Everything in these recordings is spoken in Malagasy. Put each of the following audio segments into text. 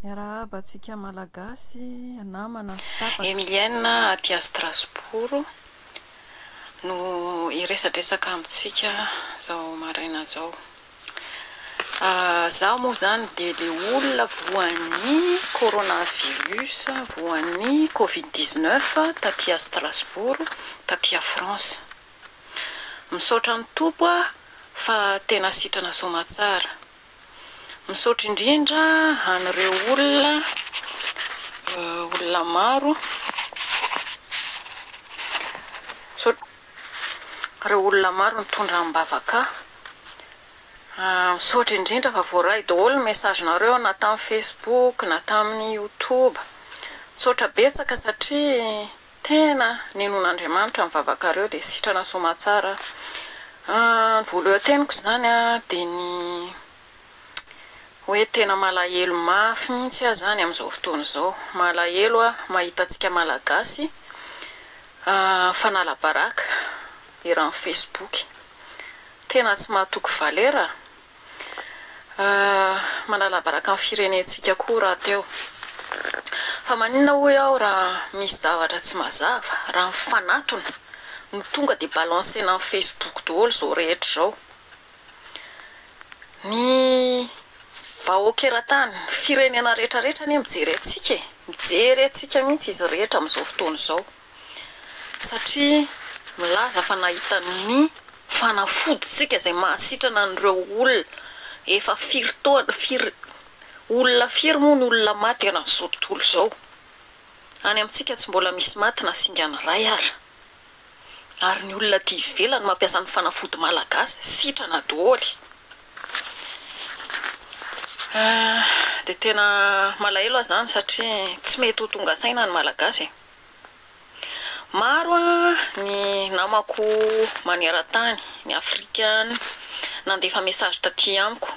Miarahaba antsika Malagasy, namana sy tapaka. Emilienne aty à Strasbourg no hiresadresaka amintsika zao maraina zao. Zaho moa zany dia le olona voan'ny coronavirus, voan'ny covid dix neuf taty à Strasbourg, taty à France. Misaotra ny Tompo aho fa tena sitrana soamatsara. Misaotra indrindra an'ireo olona olona maro misaotra ireo olona maro nitondra am-bavaka ahy, misaotra indrindra fa voaray daholo ny message-nareo na tamin'ny facebook na tamin'ny youtube, misaotra betsaka satria. Tena nenon'Andriamanitra ny vavakareo dia sitrana soamatsara Ny voalohanteniko izany dia ny hoe tena malahelo mafy mihitsy aho izany amin'izao fotoana izao malahelo aho mahita antsika malagasy fanala-baraka eran'ny facebook tena tsy mahatoky valera Manalabaraka ny firenentsika koa rahateo. Fa maninona hoy aho raha misy zavatra tsy mazava, raha mifanatona no tonga dia balancer-na amin'ny Facebook daholo izao rehetra izao. Ny vahoaka eran-tany, firenena rehetra rehetra anie mijery antsika e, mijery antsika mihitsy izy rehetra amin'izao fotoana izao. Satria milaza fa nahita ny fanafodintsika izay mahasitrana an'ireo olona efa firy taona, firy, olona firy moa ny olona maty eran'izao tontolo izao? Any amintsika tsy mbola misy maty na singany iray ara. Ary ny olona aty ivelany mampiasa ny fanafody malagasy sitrana doholy. Dia tena malahelo aho izany satria tsy mety ho tonga saina ny malagasy e. Maro ny namako manerantany, ny Afrika any, nandefa message taty amiko,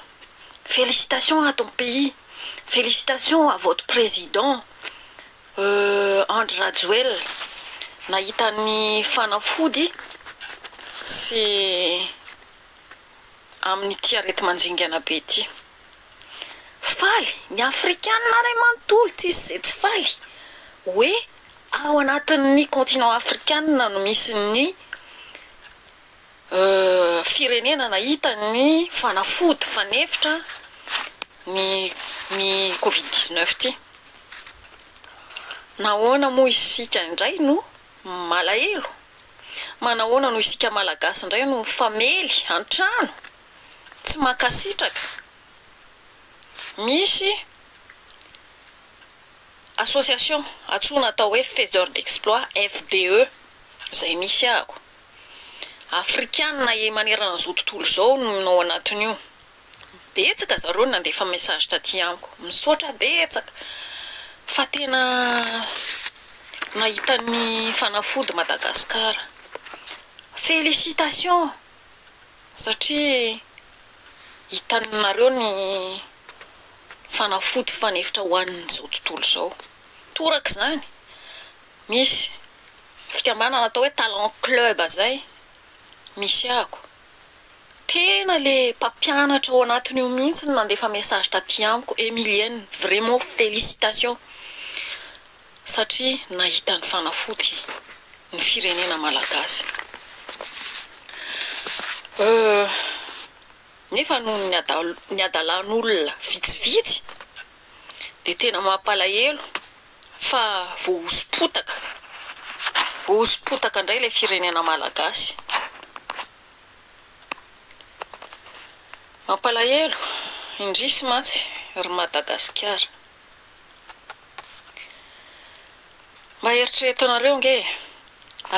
Félicitations à ton pays, félicitations à votre président Andry Rajoelina nahita ny fanafody sy amin'ity areti-manjingana be ity. Faly, ny Afrikana iray manontolo tsisy izay tsy faly hoe ao anatin'ny continent Afrikana no misy ny firenena nahita ny fanafody fanefitra ny ny covid dix neuf ity. Nahoana moa isika indray no malahelo? Manahoana no isika Malagasy indray no mifamely an-trano? Tsy mankasitraka. Misy association antsoina atao hoe faiseur d'exploit, FDE, izay misy ahako. Afrikanina e maneran'izao tontolo izao no ao anatin'io. Betsaka zareo nandefa message taty amiko. Misaotra betsaka fa tena nahita ny fanafody Madagascar. Félicitations. Satria hitanareo ny fanafody fanefitra ho an'izao tontolo izao. Toraka izany, misy fikambanana atao hoe Talent Club izay misehako. Tena le mpampianatra ao anatin'io mihitsy no nandefa message taty amiko, Emilienne, vraiment félicitations. Satria nahita ny fanafody ny firenena malagasy. Nefa noho ny ny hadalan'olona vitsivitsy dia tena mampalahelo fa voahoso-potaka, voahoso-potaka indray ilay firenena malagasy. Mampalahelo, indrisy mantsy ry Madagasikara. Mba eritrereto anareo ange e!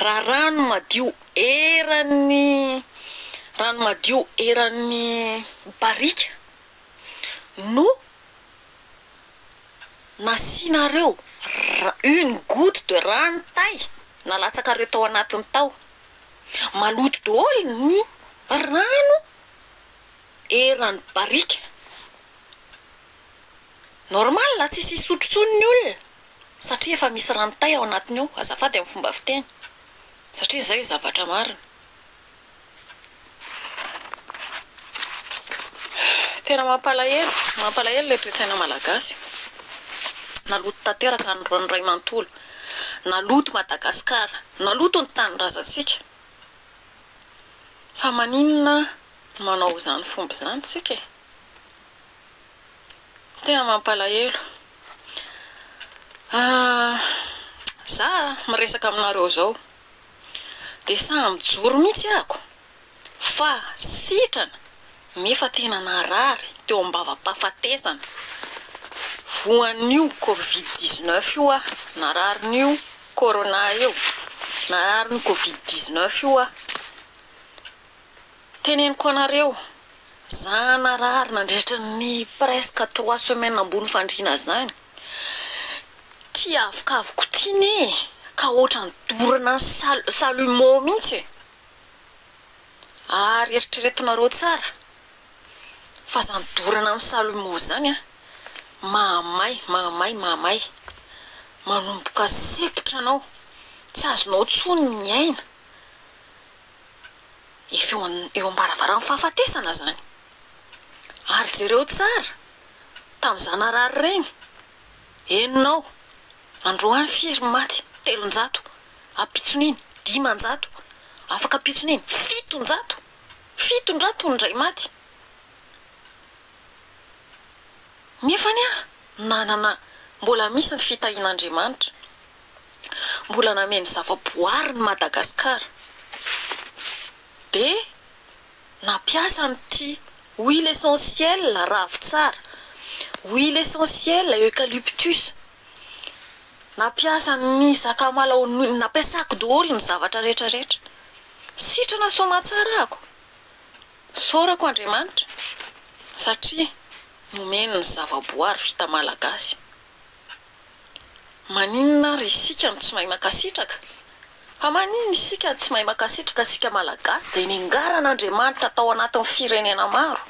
Raha rano madio eran'ny rano madio eran'ny barika no nasianareo ra- une goutte de rano tay nalatsakareo tao anatiny tao, maloto daholo ny rano eran'ny barika. Normal tsisy hisotro tsony ny olona satria efa misy ranotay ao anatiny ao azafady amin'ny fomba fiteny satria zay zavatra marina. Tena mampalahelo mampalahelo ilay toetsaina malagasy naloto tanteraka ny ray mantolo naloto Madagascar naloto ny tanindrazantsika fa maninona manao izany fomba izany tsika e. Tena mampalahelo. Za miresaka aminareo zao de sahy mijoro mihitsy ako fa sitrana nefa tena narary teo ambava-pahafatesana voan'io covid dix neuf io aho, nararin'io corona io, nararin'ny covid dix neuf io aho. Teneniko anareo, za narary nandritra ny presque trois semaines ambony fandriana zany, ty avokavoko ty ne ka otrany dorana ny salumeau mintsy e! ary eritreretonareo tsara fa zany dorana amin'ny salumeau zany an, mahamay, mahamay, mahamay, manomboka sempotra anao, tsy azonao tsony ny aina, efa eo an eo am-baravaran'ny fahafatesana zany. Ary jereo tsara tamin'ny zanarary reny enina ao androany firy ny maty telonjato ampitson'iny dimanjato afaka ampitson'iny fitonjato fitonjato ny indray maty nefa anie nanana mbola misy ny fitahian'Andriamanitra mbola nameno zava-boary ny Madagascar dia nampiasa an'ity huile essentiel ravintsara, huile essentiel eucalyptus, nampiasa ny sakamalaho, nampiasako daholo ny zavatra rehetra rehetra, sitrana soamatsara ahako, isaorako Andriamanitra satria nomeny ny zava-boary vita malagasy. Maninona ary isika no tsy mahay mankasitraka? Fa maninona isika no tsy mahay mankasitraka isika Malagasy izay nengaran'Andriamanitra tao anatin'ny firenena maro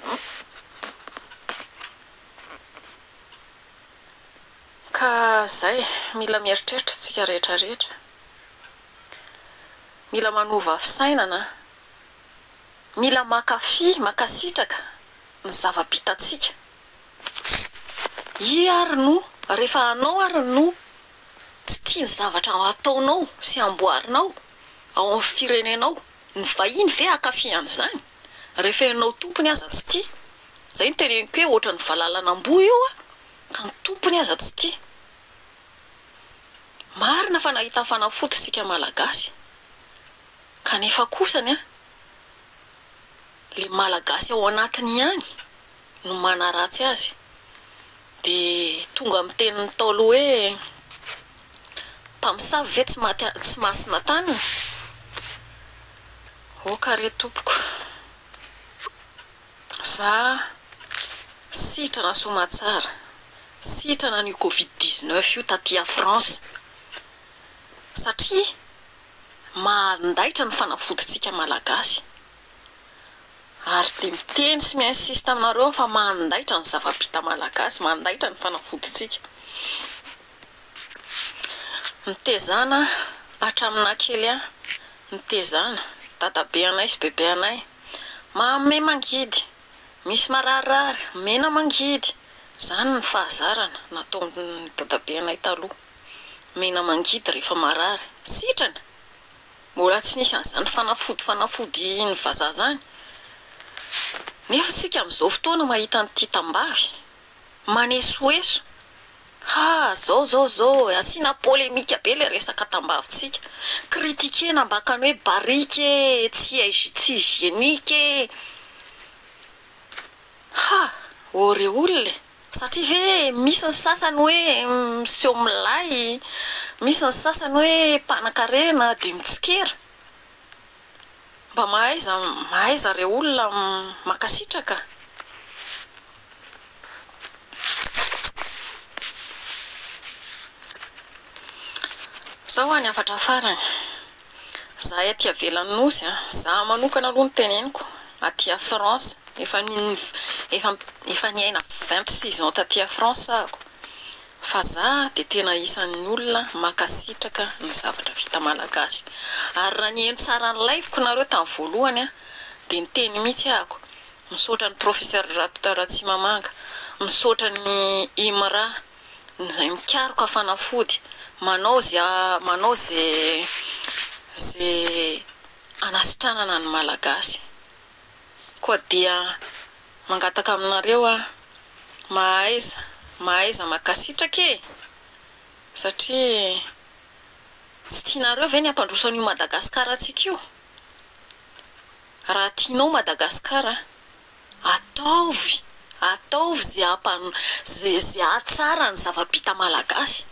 ka izay? Mila mieritreritra isika rehetra rehetra, mila manova fisainana, mila mankafy, mankasitraka ny zava-bitantsika. Iiaa ary no rehefa anao ary no tsy tia ny zavatra ataonao sy amboarinao ao amin'ny firenenao, ny vahiny ve hankafy an'izany rehefa ianao tompony aza tsy tia? Izay no teneniko hoe ohatran'ny valalan'amboa io an, ka ny tompony aza tsy tia. Marina fa nahita fanafody isika Malagasy, kanefa kosany an, le Malagasy ao anatiny ihany no manaratsy azy dia tonga amin'ny tenin'ny Ntaolo hoe, Mpamosavy ve tsy maty tsy masina taniny? Oka re tompoko, za sitrana soamatsara, sitrana an'io covid dix neuf io taty à France satria mandaitra ny fanafodintsika malagasy. Ary dia miteny sy mi-insiste aminareo aho fa mandaitra ny zava-bita malagasy, mandaitra ny fanafodintsika. Mitezana hatraminà kely ahy, mitezana, dadabe anay sy bebe anay, mahamay mangidy, misy mararirary, mena mangidy, izany ny fahazarana nataon'ny dadabe anay taloha, mena mangidy rehefa marary, sitrana! Mbola tsy nisy an'izany fanafody fanafody ny vazaha zany nefa tsika amzao fotoana mahita an'ity tambavy manesoeso ha zao zao zao e asina polemika be le resaka tambavy tsika critiquer na mbakany hoe barika e tsy hygn tsy hygienique e ha ô re olona e. Satria ve misy ny sasany hoe miseho milay, misy ny sasany hoe mpanan-karena dia mitsikera? Mba mahaiza mahaiza re olona an! Mankasitraka. Zao any hafatra farany. Zahay aty avelan'ny nosy a, za manokana aloha ny teneniko, aty a France, efa efa efa niaina vingt six ans taty a France ahako, fa za de tena isan'ny olona mankasitraka ny zavatra vita malagasy, ary raha niheno tsara ny live ko nareo tamin'ny voalohany a, de niteny mihitsy ahako, misaotra an'i Professeur Ratoraratsimamanga, misaotra an'i Imra. ny izay mikaroka fanafody manao izay manao izay hanasitranana ny Malagasy koa dia mangataka aminareo aho mahaiza mahaiza makasitraka e satria tsy tianareo ve ny hampandroso an'io Madagasikara antsika io raha tianao Madagasikara Ataovy, ataovy ze ampano, ze, ze ahatsara ny zava-bita malagasy.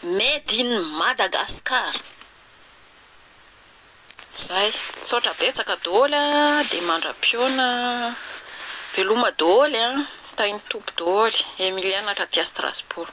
Made in Madagascar. Zay. Misaotra betsaka doholy a, dia mandra-piona a. Veloma doholy a. Tahin'ny Tompo doholy. Emilienne avy aty Strasbourg.